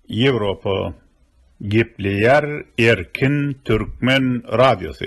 Ýewropa gepleýär erkin türkmen radiosy.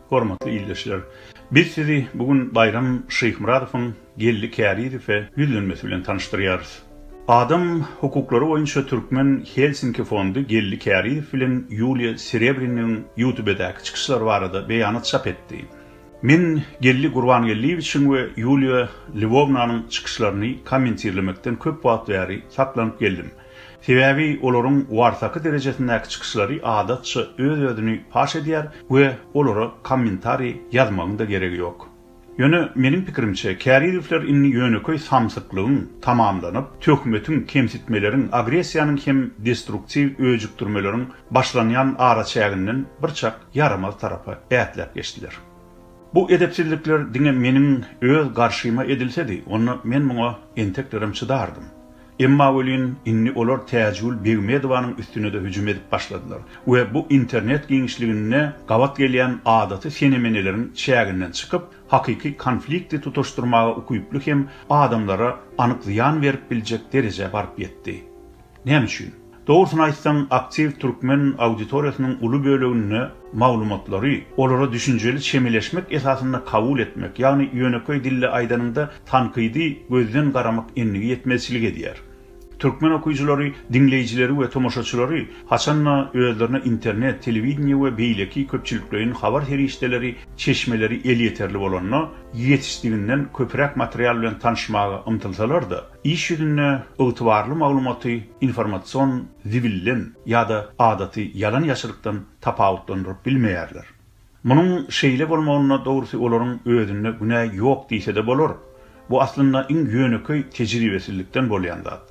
Hormatly ildeşler! Biz sizi bu gün Baýram Şyhmyradowyň Geldi Kärizowe ýüzlenmesi bilen tanyşdyrýarys. Adam hukuklary boýunça türkmen Helsinki fondy Geldi Kärizow bilen Ýuliýa Serebriniň Ýutubedäki çykyşlary barada beýanat çap etdi. Men Geldi Gurbangeldiýewiçiň we Ýuliýa Lwownanyň çykyşlaryny kommentirlemekden köp wagt bäri saklanyp geldim. Sebäbi olaryň warsaky derejesindäki çykyşlary adatça öz-özüni paş edýär we olara kommentariý ýazmagyň-da geregi ýok. Ýöne, meniň pikirimçe, Kärizewler indi ýönekeý samsyklygyň tamamlanyp, töhmetiň, kemsitmeleriň, agressiýanyň hem destruktiw öjükdirmeleriň başlanýan araçäginden birçak ýaramaz tarapa ätläp geçdiler. Bu edepsizlikler diňe meniň öz garşyma edilsedi, onda men muňa enteklerem çydardym. Emma welin, indi olar Täjigül Begmedowanyň üstüne-de hüjüm edip başladylar we bu internet giňişliginde gabat gelýän adaty senemeneleriň çäginden çykyp, hakyky konflikti tutaşdyrmaga ukyply hem adamlara anyk zyýan berip biljek derejä baryp ýetdi. Näme üçin? Dogrusyny aýtsaň, aktiw türkmen auditoriýasynyň uly böleginde maglumatlary olara düşünjeli çemeleşmek esasynda kabul etmek, ýagny ýönekeý dilde aýdanyňda tankydy gözden garamak endigi ýetmezçilik edýär. Türkmen okyjylary diňleýjileri we tomaşaçylary haçan-da özlerine internet, telewideniýe we beýleki köpçülikleýin habar serişdeleri çeşmeleri elýeterli bolanda ýetişdiginden köpräk material bilen tanyşmaga ymtylsalar-da, Iş ýüzünde ygtybarly maglumaty informasion zibilden ýa-da adaty ýalan-ýaşrykdan tapawutlandyryp bilmeýärler. Munuň şeýle bolmagyna dogrusy olaryň özünde günä ýok diýse-de bolar. Bu aslynda iň ýönekeý tejribesizlikden bolýan zat.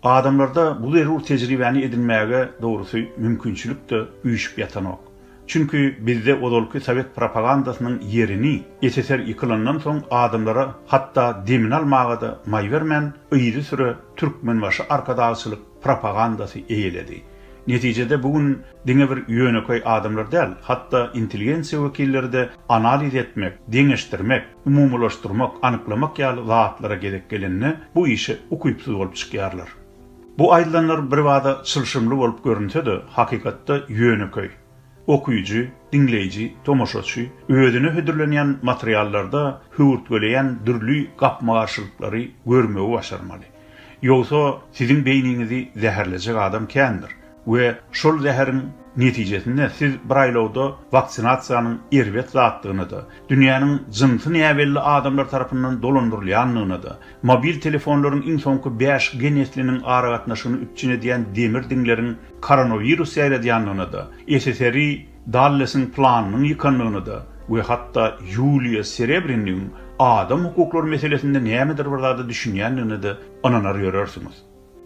Adamlarda bu zerur tejribäni edinmäge dogrusy mümkinçilik-de üýşüp ýatanok. Çünki bizde ozalky sowet propagandasynyň ýerini SSR ýykylandan soň adamlara hatda demini almaga-da maý bermän, yzysüre Türkmenbaşy arkadagçylyk propagandasy eýeledi. Netijede bu gün diňe bir ýönekeý adamlar däl, hatda intelligensiýa wekilleri-de analiz etmek, deňeşdirmek, umumylaşdyrmak, anyklamak ýaly zatlara gezek gelende bu işe ukypsyz bolup çykýarlar. Bu aýdylanlar birbada çylşyrymly bolup görünse-de, hakykatda ýönekeý. Okyjy, diňleýji, tomaşaçy özüne hödürlenýän materiallarda höwürtgeleýän dürli gapma-garşylyklary görmegi başarmaly. Ýogsa, siziň beýniňizi zäherlejek adam kändir. we şol zäheriň netijesinde siz bir aýlawda waksinasiýanyň erbet zatdygyna-da, dünýäniň jynsy näbelli adamlar tarapyndan dolandyrylýandygyna-da, mobil telefonlaryň iň soňky bäş G nesliniň aragatnaşygyny üpjün edýän demir diňleriň koronawirus ýaýradýandygyna-da, SSRI Dallesiň planynyň ýykandygyna-da we hatda Ýuliýa Serebrynyň adam hukuklary meselesinde nämedir bir zada düşünýändigine-de ynanar ýörersiňiz.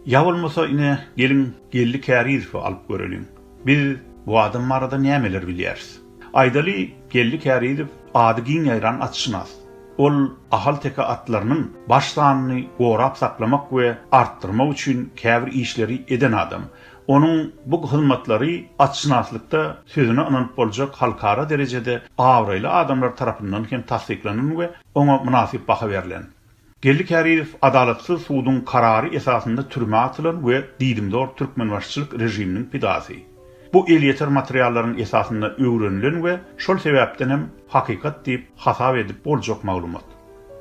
Ýa bolmasa ine geliň Geldi Kärizowy alyp göreliň. Biz bu adam barada nämeler bilýäris? Aýdaly, Geldi Kärizow ady giň ýaýran atşynas. Ol ahalteke atlarynyň baş sanyny gorap saklamak we artdyrmak üçin käbir işleri eden adam. Onuň bu hyzmatlary atşynaslykda sözüne ynanyp boljak halkara derejede abraýly adamlar tarapyndan hem tassyklanan we oňa mynasyp baha berlen. Geldi Kärizow adalatsyz suduň karary esasynda türmä atylan we diýdimzor türkmenbaşyçylyk režiminiň pidasy. Bu elýeter materiallaryň esasynda öwrenilen we şol sebäpden hem hakykat diýip hasap edip boljak maglumat.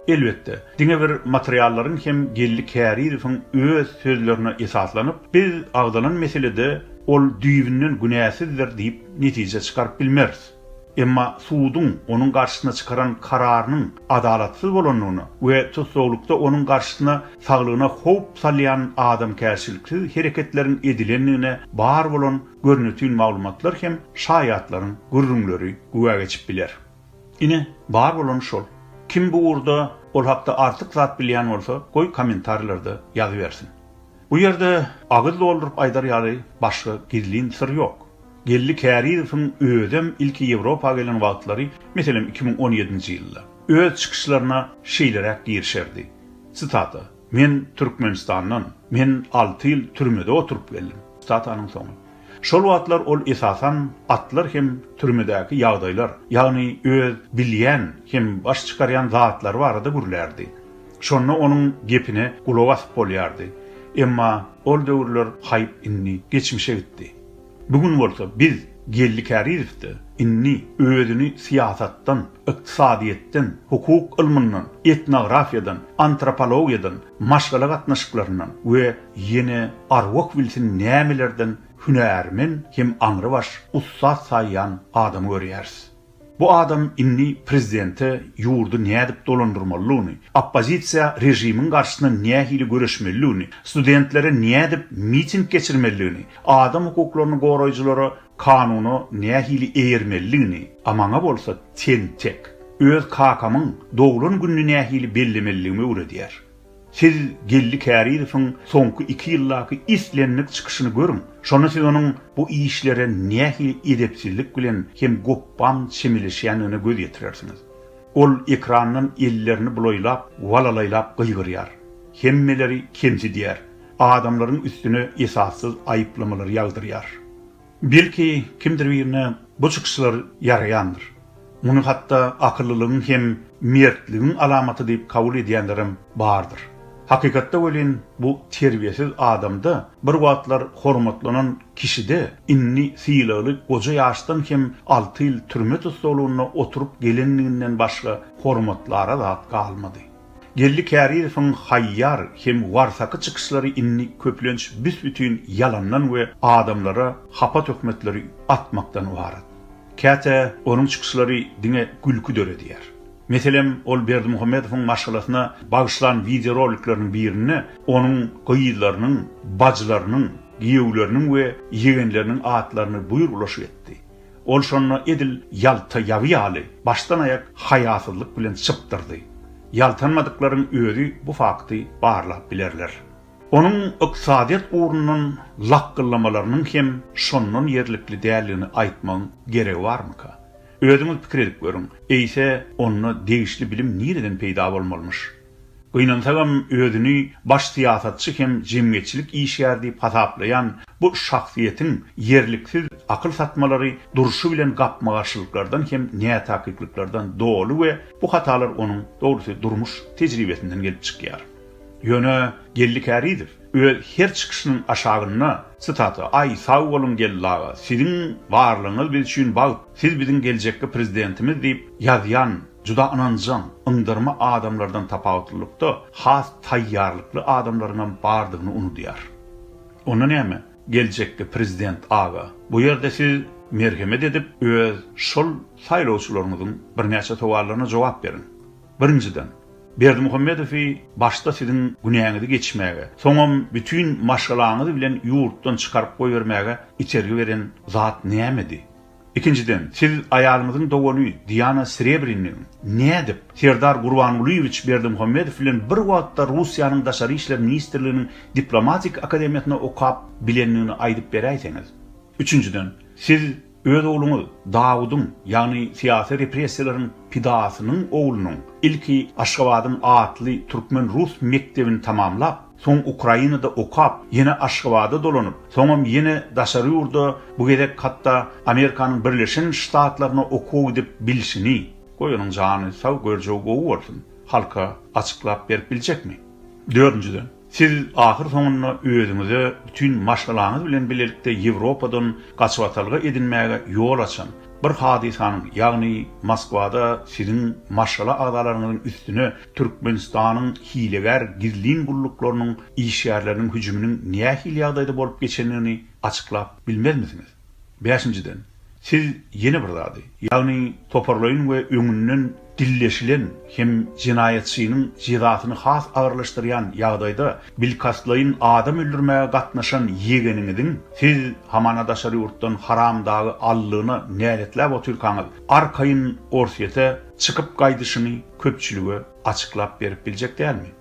Elbetde, diňe bir materiallaryň hem Geldi Kärizowyň öz sözlerine esaslanyp, biz agzalan meselede ol düýbünden günäsizdir diýip netije çykaryp bilmeris. Emma suduň onuň garşysyna çykaran kararynyň adalatsyz bolandygyna we tussaglykda onuň garşysyna saglygyna howp salýan adamkärçiliksiz hereketleriň edilendigine bar bolan görnetin maglumatlar hem şaýatlaryň gürrüňleri güwä geçip biler. Ine, bar bolany şol. Kim bu ugurda ol hakda artyk zat bilýän bolsa, goý kommentariýlarda ýazybersin. Bu ýerde agyz dolduryp aýdar ýaly başga gizlin syr ýok. Geldi Kärizowyň özem ilki Ýewropa gelen wagtlary, meselem, iki müň on ýedinji ýylda, öz çykyşlaryna şeýleräk girişerdi, sitata, Men Türkmenistandan, men alty ýyl türmede oturyp geldim, sitatanyň soňy. Şol wagtlar ol esasan atlar hem türmedäki ýagdaýlar, ýagny öz bilýän hem baş çykarýan zatlary barada gürlärdi. Şonda onuň gepine gulak asyp bolýardy. Emma ol döwürler haýp indi geçmişe gitdi. Bu gün bolsa biz Geldi Kärizowda indi özüni syýasatdan, ykdysadyýetden, hukuk ylmyndan, etnografiýadan, antropologiýadan, maşgala gatnaşyklaryndan we ýene arwah bilsin nämelerden hünärmen hem aňrybaş ussat saýýan adamy görýäris. Bu adam indi prezidente ýurdy nädip dolandyrmalydygyny, oppozisiýa režimiň garşysyna nähili göreşmelidigini, studentlere nädip miting geçirmelidigini, adam hukuklaryny goraýjylara kanuna nähili eýermelidigini, a maňa bolsa ten-tek, öz kakamyň doglan gününi nähili bellemelidigimi öwredýär. Siz Geldi Kärizowyň soňky iki ýyldaky islendik çykyşyny görüň, şonda siz onuň bu işlere nähili edepsizlik bilen hem gopbam çemeleşýändigine göz ýetirersiňiz. Ol ekrandan ellerini bulaýlap, walalaýlap gygyrýar. Hemmeleri kemsidýär. Adamlaryň üstüne esassyz aýyplamalary ýagdyrýar. Belki, kimdir birine bu çykyşlar ýaraýandyr. Muny hatda akyllylygyň hem mertligiň alamaty diýip kabul edýänlerem bardyr. Hakykatda welin, bu terbiýesiz adamda, bir wagtlar hormatlanan kişide, indi sylagly goja ýaşdan hem alty ýyl türme tussaglygynda oturyp gelenliginden başga hormatlara zat galmady. Geldi Kärizowyň haýýar hem warsaky çykyşlary indi köplenç büs-bütin ýalandan we adamlara hapa töhmetleri atmakdan ybarat. Käte onuň çykyşlary diňe gülki döredýär. Meselem, ol Berdimuhamedowyň maşgalasyna bagyşlan wideorolikleriniň birinde onuň gyzlarynyň, bajylarynyň, giýewleriniň we ýegenleriniň atlaryny buýr ulaşyk etdi. Ol şonda edil ýalta ýaby ýaly, başdan-aýak haýasyzlyk bilen çypdyrdy. Ýaltanmadyklaryň özi bu fakty barlap bilerler. Onuň ykdysadyýet ugrundan lakgyllamalarynyň hem şondan ýerlikli däldigini aýtmagyň geregi barmyka? Özüňiz pikir edip görüň, eýse, onda degişli bilim nireden peýda bolmalymyş? Gynansagam özüni baş syýasatçy hem jemgyýetçilik işgäri diýip hasaplaýan bu şahsyýetiň ýerliksiz akyl satmalary durşy bilen gapma-garşylyklardan hem nätakyklyklardan doly we bu hatalar onuň, dogrusy, durmuş tejribesinden gelip çykýar. Ýöne Geldi Kärizow öz her çykyşynyň aşagynda, Sitata, Aý, sag boluň, Geldi aga, siziň barlygyňyz biz üçin bagt, siz biziň geljekki prezidentimiz diýip ýazýan, Juda ynanjaň, yndyrma adamlardan tapawutlylykda, has taýýarlykly adamlaryň hem bardygyny unudýar. Onda näme, geljekki prezident aga, bu ýerde siz merhemet edip, öz şol saýlawçylaryňyzyň birnäçe sowallaryna jogap beriň. Birinjiden, Berdimuhamedowy başda siziň günäňizi geçmäge, soňam bütin maşgalaňyz bilen ýurtdan çykaryp goýbermäge itergi beren zat nämedi? Ikinjiden, siz aýalyňyzyň dogany Diana Srebrininiň nädip Serdar Gurbangulyýewiç Berdimuhamedow bilen bir wagtda Russiýanyň Daşary işler ministrliginiň diplomatik akademiýasynda okap bilendigini aýdyp beräýseňiz? Üçünjiden, siz öz ogluňyz Dawudyň, ýagny syýasy repressiýalaryň pidasynyň oglunyň ilki Aşgabadyň atly türkmen-rus mekdebini tamamlap, Soň Ukrainada okap, ýene Aşgabada dolanyp, soňam ýene daşary ýurda, bu gezek hatda Amerikanyň Birleşen Ştatlaryna okuwa gidip bilşini, goý onuň jany sag, görjewi gowy bolsun, halka açyklap berip biljekmi? Dördünjiden, siz ahyr soňunda özüňize bütin maşgalaňyz bilen bilelikde Ýewropadan gaçybatalga edinmäge ýol açan bir hadysanyň, ýagny Moskwada siziň maşgala agzalaryňyzyň üstüne Türkmenistanyň hilegär gizlin gulluklarynyň işgärleriniň hüjüminiň nähili ýagdaýda bolup geçendigini açyklap bilmezmisiňiz? Bäşinjiden, siz ýene bir zady, ýagny toparlaýyn we öňünden dilleşilen hem jenaýatçynyň jezasyny has agyrlaşdyrýan ýagdaýda bilkastlaýyn adam öldürmäge gatnaşan ýegeniňiziň siz hamana daşary ýurtdan haramdagy aldygyna näletläp otyrkaňyz, arkaýyn Orsýete çykyp gaýdyşyny köpçülige açyklap berip biljek dälmi?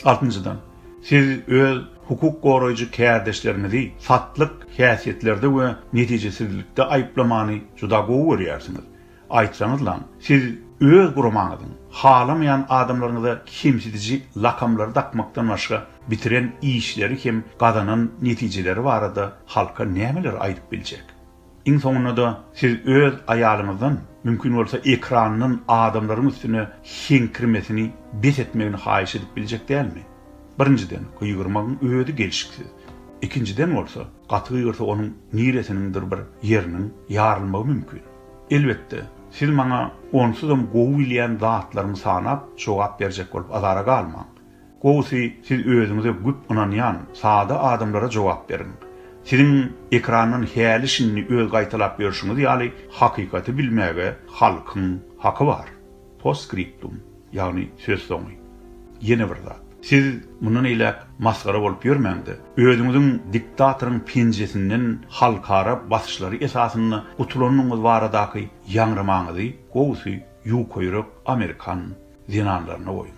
Altynjydan, siz öz hukuk goraýjy kärdeşleriňizi satlyk häsiýetlerde we netijesizlikde aýyplamany juda gowy görýärsiňiz. Aýtsaňyzlaň, siz öz guramaňyzyň halamaýan adamlaryňyza kemsidiji lakamlary dakmakdan başga bitiren işleri hem gazanan netijeleri barada halka nämeleri aýdyp biljek? Iň soňunda-da siz öz aýalyňyzdan, mümkin bolsa ekrandan adamlaryň üstüne heňkirmesini bes etmegini haýyş edip biljek dälmi? Birinjiden, gygyrmagyň özi gelşiksiz. Ikinjiden bolsa, gaty gygyrsa onuň niresiniňdir bir ýeriniň ýarylmagy mümkin. Elbetde, siz maňa onsuzam gowy bilýän zatlarymy sanap jogap berjek bolup azara galmaň. Gowusy siz özüňize güp ynanýan sada adamlara jogap beriň. Siziň ekrandan häli şindi öz gaýtalap ýörşüňiz ýaly hakykaty bilmäge halkyň haky bar. Postskriptum, ýagny söz soňy. Ýene bir zat. Siz mundan eýläk masgara bolup ýörmäňde, özüňiziň diktatoryň penjesinden halkara basyşlary esasynda gutulanyňyz baradaky ýaňramaňyzy gowusy ýuka ýürek amerikan zenanlaryna goýuň.